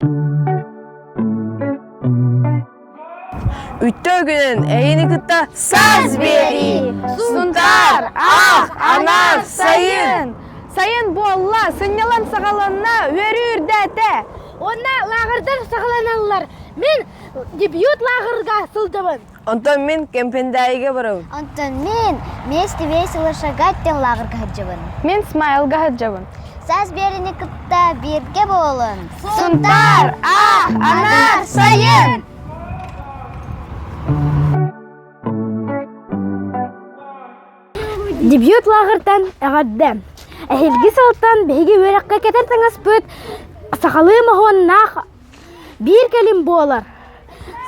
Үттө үгүнүн эйини кытта саз биэрии! Сунтаар, аах, анаар, сайын! Сайын буолла, сынньалаҥ саҕаланна, үөрүү үрдээтэ! Уонна лааҕырдар саҕаланаллар. Мин дебют лааҕырга сылдьабын. Онтон мин Кэмпендээйигэ барабын. Онтон мин «Вместе весело шагать» диэн лааҕырга сылдьабын. Мин смайлга сылдьабын. Саас биэриини кытта бииргэ буолун. Сунтаар А анаар сайын! Дебют лааҕыртан эҕэрдэ! Эһиги сылтан биһиги үөрэххэ кэтэн таҥаспыт сахалыы моһуоннаах биир кэлим буолар.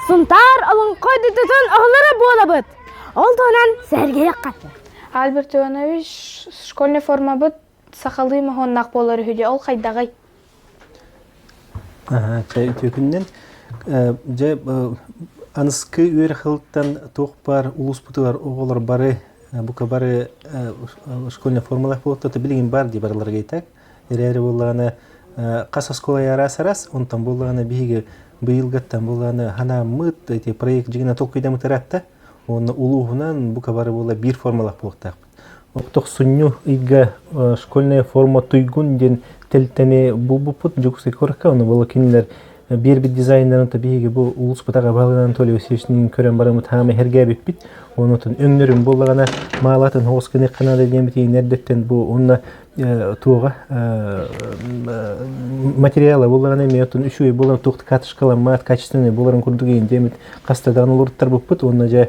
Сунтаар олоҥхо дойдутун оһолоро буолабыт. Ол туһунан сэһэргэһиэххэ. Альберт Иванович, школьный формабыт Сахалыы моһуоннаах буолар үһү дьэ ол хайдаҕый? Үтүөкүннэн дьэ аныскы үөр хылтан туох баар улууспутугар оҕолор бары бука бары школьный формалах буолта билигин бар дии барылары кейтак эрээри буоллаҕына хас оскуола араас арас онтон буоллаҕына биһиги быйылгаттан буоллаҕына ханааммыт эти проект жигина толкуйдамытыратта онно улууһунан бука бары буола биир формалах буолтаах Охтохсунньу ыйга Школьная форма туйгун диэн тэлтэни булбуппут Дьокуускай куоракка. Ону буола кинилэр биэрбит дизайнерынта биһиги бу улууспут аҕа баһылыгынан Анатолий Васильевичтыын көрөн бараммыт хаама эргээбиппит. Онутун өҥнөрүн буоллаҕына маалаатын оҕус гыныахха наада диэммит иһин эрдэттэн бу уонна туоҕа материала буоллаҕына эмиэ оттон үчүгэй буолан туох катышкаламмат качественный буоларын курдук диэммит хаста даҕаны олоруттарбыппыт уонна дьэ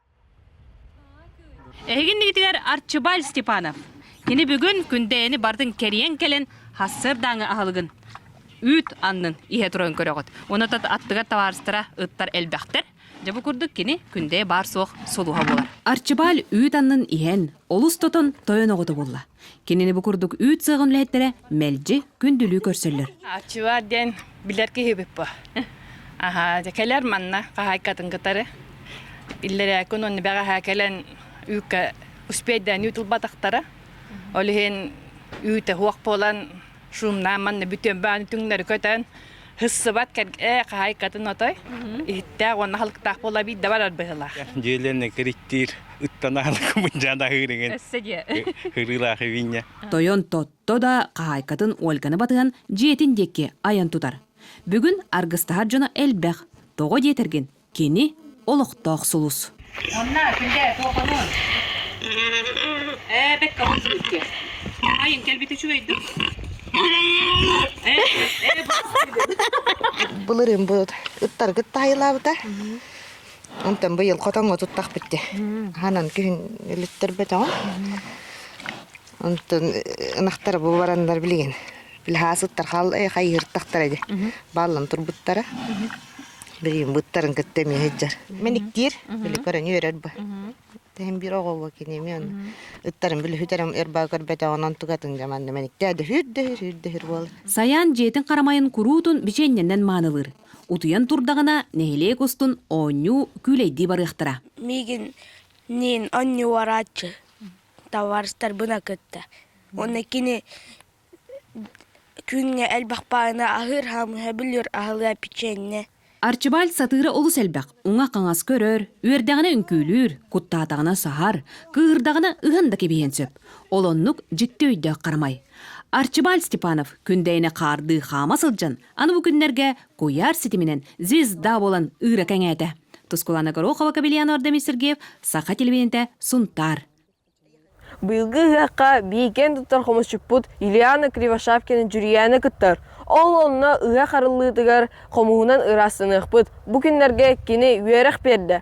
Эһигин инигитигэр Арчыбай Степанов. Кини бүгүн Күндэйэни бардын кэрийэн кэлэн хассыардааҥы аһылыгын үүт аннын иһэ туран көрөҕүт. Онотот аттыгар табаарыстара ыттар элбэхтэр. Дьэ бу курдук кини Күндэйэ баар суох сулуһа буолар. Арчыбаал үүт аннын иһэн, олус тотон тойон оҕото буолла. Кинини бу курдук үүт сыаҕын үлэһиттэрэ мэлдьи күндүлүү көрсөллөр. Арчылар диэн билэр киһибит бу. Аха, кэлэр манна хаһайкатын кытары. Иллэрээ күн онно бэҕэһээ кэлэн үүккэ успейдаан үүт ылбатахтара. Ол иһин үүтэ хуох буолан шумнаан манна бүтүөн баан түҥнэри көтөн Хыссыбат кэргэ хаһайкатын отой иһиттээх уонна халыктаах буола биирдэ барар быһылаах. Дьиэлэнэ кириттиир ыттанаан кымдьаан аһыырыгын. Өссө диэ. Хырыылаах виння. Тойон Тотто да хаһаайкатын Ольганы батыһан дьиэтин диэки айан тутар. Бүгүн аргыстаһар дьоно элбэх. Тоҕо диэтэргин, Кини, олохтоох сулус. Онно, күндээ, туохунуун? Ээ, бэккэҕин сүүрдэ. Айын кэлбит үчүгэй дуо? Былырын бу ыттаргыт таайылаабыта. Онтон быйыл хотоҥҥо туттах битти. Ханан күһүн өлүттэрбэтоҕун. Онтон ынахтара бу бараннар билигин плехаасыттар хал хайыһыртахтара дьэ бааллан турбуттара. Билигин быттарын кытта эмиэ сыдьар. Мэниктиир били көрөнү өрөр бу. Тэһин биир оҕоҕо киними аны ыттарын били хүтэрим ырба көрбөтөҕүнэн тугатын жаманны мэниктээ дөһүр дөһүр һүр дөһүр буолар. Сайаан дьиэтин харамайын куруутун бичиэннэннэн маанылыыр. Утуйан турдаҕына нэһилиэк устун оонньуу күүлэйдии барыахтара. Мигин нин онньуорааччы табаарыстарбына кытта уонна кини күҥҥэ элбэх баҕана аһыыр хаамыһа биллиэр аһылыа печенье Арчыбааль сатыыра олус элбэх уҥа-хаҥас көрөр, үөрдэҕинэ үҥкүүлүүр, куттаатаҕына саһар, кыыһырдаҕына ыһан да кэбиһиэн сөп. Ол оннук дьикти өйдөөх харамай. Арчыбааль Степанов күндэйэни хаардыы хаама сылдьан Аны бу күннэргэ куйаар ситиминэн «Звезда» буолан ыыра кэҥээтэ. Тускулана Горохова, Кабельян Ардамис Сергеев, Саха телевидениетэ «Сунтаар». Быйылгы ыһыахха биикэн туттар хомусчуппут Ильяна Кривошапкина Дьүрүйээнэ кыттар. Ол онно ыһыах арыллыытыгар хомуһунан ыраастаныахпыт. Бу күннэргэ кини үөрэх биэрдэ.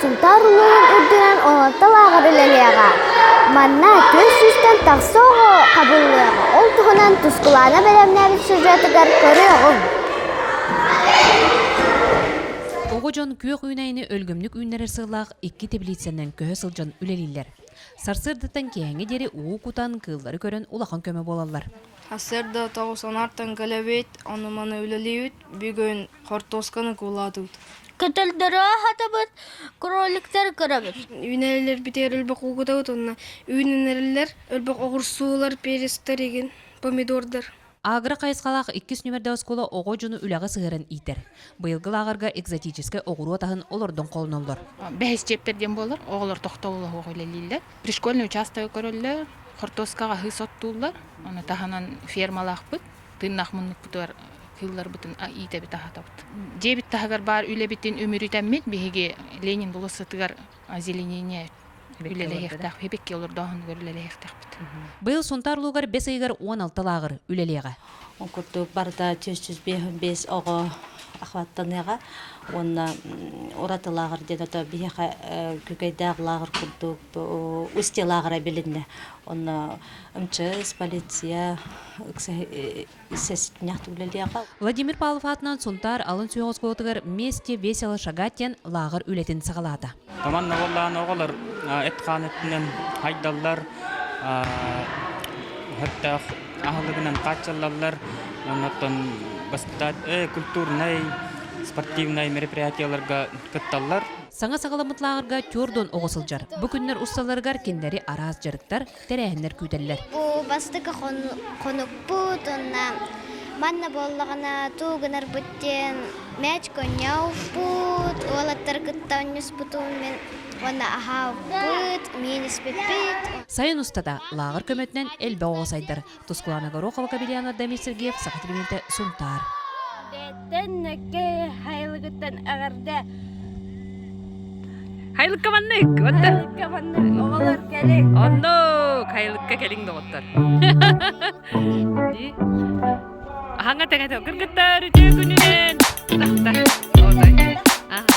Сунтаар улууһун үрдүнэн оһолто лааҕыр үлэлиэҕэ. Манна күн сүүстэн тахса оҕо хабыллыаҕа, ол туһунан Тускулаана бэлэмнээбит сюжетыгар көрүөҕүҥ. Оҕо дьон күөх үүнэйини өлгөмнүк үүннэрэр сыллаах икки теплицанан көһө сылдьан үлэлииллэр. Сарсыардаттан киэһэҥҥэ диэри уу кутан, кыыллары көрөн улахан көмө буолаллар. Сарсыарда тоҕус аҥаартан кэлэбит, ону-маны үлэлиибит. бүгүн хортуосканы кулаатыбыт көтөлдөрө хатабыт кроликтер көрөбүт үүнэлэр битэр өлбөх угутабыт онна үүнэнэлэр өлбөх оҕурсуулар пересторигин помидордар агро хайысхалаах иккис нүмердэ оскуола оҕо дьону үлэҕэ сыһыаран иитэр быйылгы лааҕырга экзотическай оҕуруот аһын олордон холоноллор бэһис чиэптэр диэн буолар оҕолор тохтобуллоһуох үлэлииллэр пришкольный участок көрөллөр хортуоскаҕа аһыы соттууллар ону таһынан фермалаахпыт тыыннаах муннукпутугар кыылларбытын иитэбит аһатабыт. Дьиэбит таһыгар баар үлэбитин үмүрүтэммит биһиги Ленин болуоссатыгар озеленение үлэлэһиэхтээх эбикки олордооһунугар үлэлэһиэхтэхпит. Быйыл Сунтаар улуугар бэс ыйыгар уон алта лааҕыр үлэлиэҕэ. Ол курдук барыта жүз жүз бес оҕо охваттаныаҕа уонна ураты лааҕыр диэн ото биһиэхэ күкэйдээх лааҕыр курдук устьялааҕара билиннэ онно мчс полиция сэтинньэх үлэлиэҕэ владимир павлов аатынан сунтаар алын сүһүөх оскуолатыгар вместе весело шагать диэн лааҕыр үлэтин саҕалаата команда буоллаҕына оҕолор эт хаан өттүнэн хайдаллар өттөөх аһылыгынан хааччыллаллар оннуттан культурнай спортивнай мероприятиеларга кытталлар Саҥа саҕаламмыт лааҕырга Тюрдун оҕо сылдьар. Бу күннэр усталарыгар кинилэри араас дьарыктар, тэрээһиннэр күүтэллэр. Бу бастакы хонукпут уонна манна буоллаҕына тугу гынарбыт диэн мээч конньооппут, уолаттары кытта оонньуспутум мин уонна аһаабыт, миин испиппит. Сайын устата лааҕыр көмөтүнэн элбэх оҕо сайдар. Тускулана Горохова кабелеаҥар Дамир Сергеев Саха телевидениетэ Сунтаар. хайылыгыттан эҕэрдэ Хайлыкка маннык. Хайлыкка маннык. Оҕолор кэлин. Оннук. Хайлыкка кэлин доҕоттор. Аһаҥа тәҥэтэ кыргыттар күнүнэн. Ахта. Отой. Аха.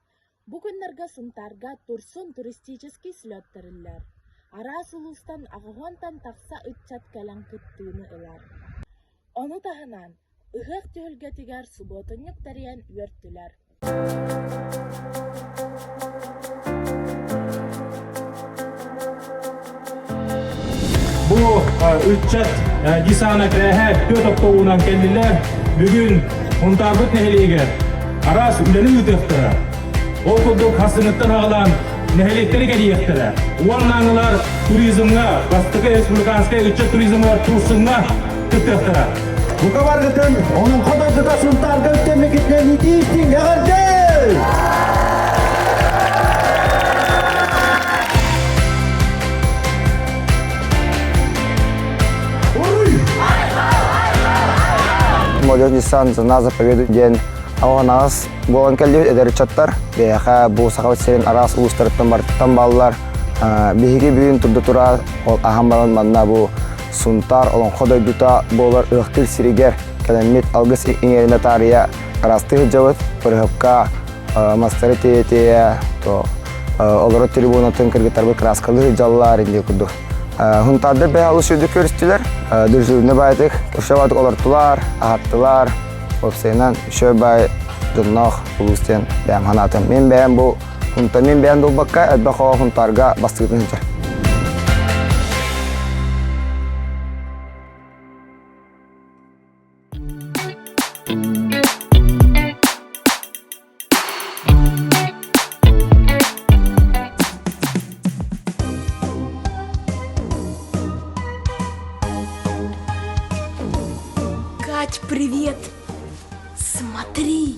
Бу күннэргэ Сунтаарга Турсун туристический слет тэриллэр. Араас улуустан аҕыһыантан тахса ыччат кэлэн кыттыыны ылар. Ону таһынан, ыһыах түһүлгэтигэр субуотунньук тэрийэн үөртүлэр. Бу ыччат десана кыраһа түөрт октоуунан кэллилэр. Бүгүн Унтарбыт нэһилиэгэр араас үлэни ыытыахтара. Ол курдук хасыныттан аҕалан нэһилиэктэри кэрийиэхтэрэ. Уонна аналар туризмҥа, бастакы республиканскай ыччат туризмыгар турсумҥа Бука баргытын оның қадырдыта сынтаргын тәмекетінен итейсің әғірдей! молодежь Nissan за заповедует диэн алҕанаҕас буолан кэллибит эдэр ыччаттар биһиэхэ бу сахабыт сирин араас улуустарыттан барлар биһиги бүгүн турда тура ол аһан баран манна бу Сунтаар Олоҥхо дойдута буолар Ыахтыыр сиригэр кэлэммит алгыс иҥэринэ таарыйа араастыы сылдьабыт. Бырыһыпка мастары тиэйэ-тиэйэ олорор трибунатын кыргыттарбыт кырааскалыы сылдьаллар иллии курдук. Хунтаардар бэйэ олус үрдүк көрүстүлэр. Дүрсүлүнэ баайытык көршөбатык олортулар, аһаттылар. Уопсайынан, шөп бай дыннах улуус диэн бэйэм ханаатым. Мен бэйэм бу Онтон мин бэйэм долбакка элбэх оҕо хунтаарга бастыытын сытар. Кать, привет! Смотри!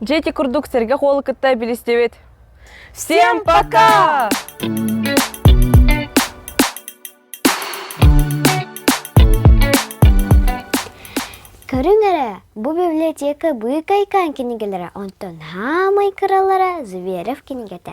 Дьэ ити курдук сэргэх уолу кытта билистибит. Всем пока! Көрүҥ эрэ, бу библиотека быыкай каан кинигэлэрэ, онтон хаамай кыралара Зверев кинигэтэ.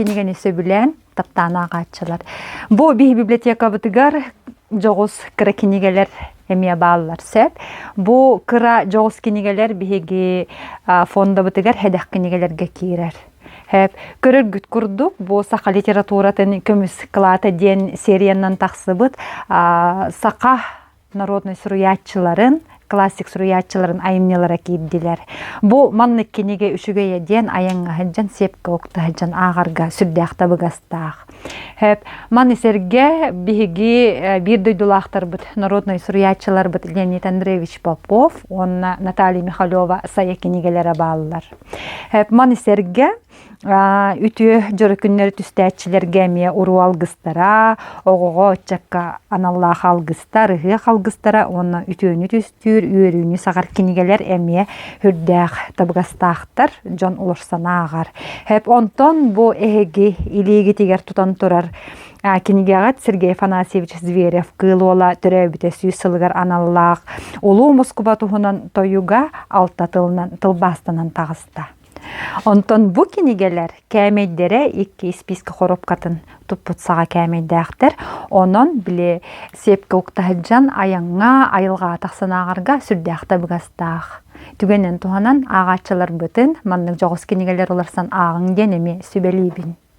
кинигени сөбүлээн таптаан ааҕааччылар бу биһи библиотекабытыгар дьоҕус кыра кинигэлэр эмиэ бааллар сөп бу кыра дьоҕус кинигэлэр биһиги фондабытыгар хэдэх кинигэлэргэ киирэр көрөргүт курдук бу саха литературатын көмүс кылаата диэн сериянан тахсыбыт саха народнай суруйааччыларын классик суруйааччыларын айымньылара киирдилэр. Бу маннык кинигэ үчүгэйэ диэн айанга сыһдьан сепка укта сыһдьан аагарга сүрдээх табыгастаах. Хэп маны сэрге биһиги э, биир дойдулаахтарбыт народнай суруйааччыларбыт Леонид Андреевич Попов уонна Наталья Михалева сая кинигэлерэ бааллар. Хэп маны сэргэ Үтүө дьоро күннэри түстээччилэргэ эмиэ уруу алгыстара, оҕоҕо, ыччакка аналлаах алгыстар, ыһыах алгыстара уонна үтүөнү түстүүр, үөрүүнү саҕар кинигэлэр эмиэ үрдээх табыгастаахтар дьон олорсон ааҕар. Онтон бу эһиги илиигитигэр тутан турар кинигэҕит Сергей Афанасьевич Зверев Кыыл Уола төрөөбүтэ сүүс сылыгар аналлаах Улуу Москуба туһунан тойуга алта тылынан тылбаастанан таҕыста. Онтон бу кинигэлэр кээмэйдэрэ икки испиискэ хоруопкатын туппут саҕа кээмэйдээхтэр. Онон били сепка укта сылдьан айаҥҥа, айылҕаатах санааҕарга сүрдээх табыгастаах. Түгэнин туһанан ааҕааччыларбытын маннык дьоҕус кинигэлэр уларсан ааҕыҥ диэн эмиэ сүбэлиибин.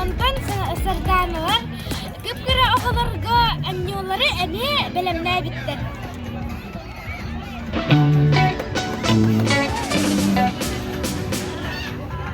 Онтон Сарданалар кып-кыра оҕолорго амньолары эмиэ бэлэмнээбиттэр.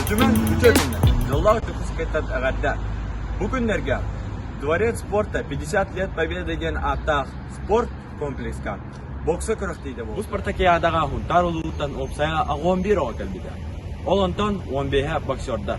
Үтүмэн бүтүөтүннэ Дьоллоох Дьокуускайтан эҕэрдэ! Бу күннэргэ Дворец спорта 50 лет Победы диэн ааттаах спорт комплекска бокса күрэхтиитэ буолла. Бу Спартакиадаҕа Хунтаар улууттан уопсайа оҕо он биир оҕо кэлбитэ. Ол онтон он биэһэ боксердар.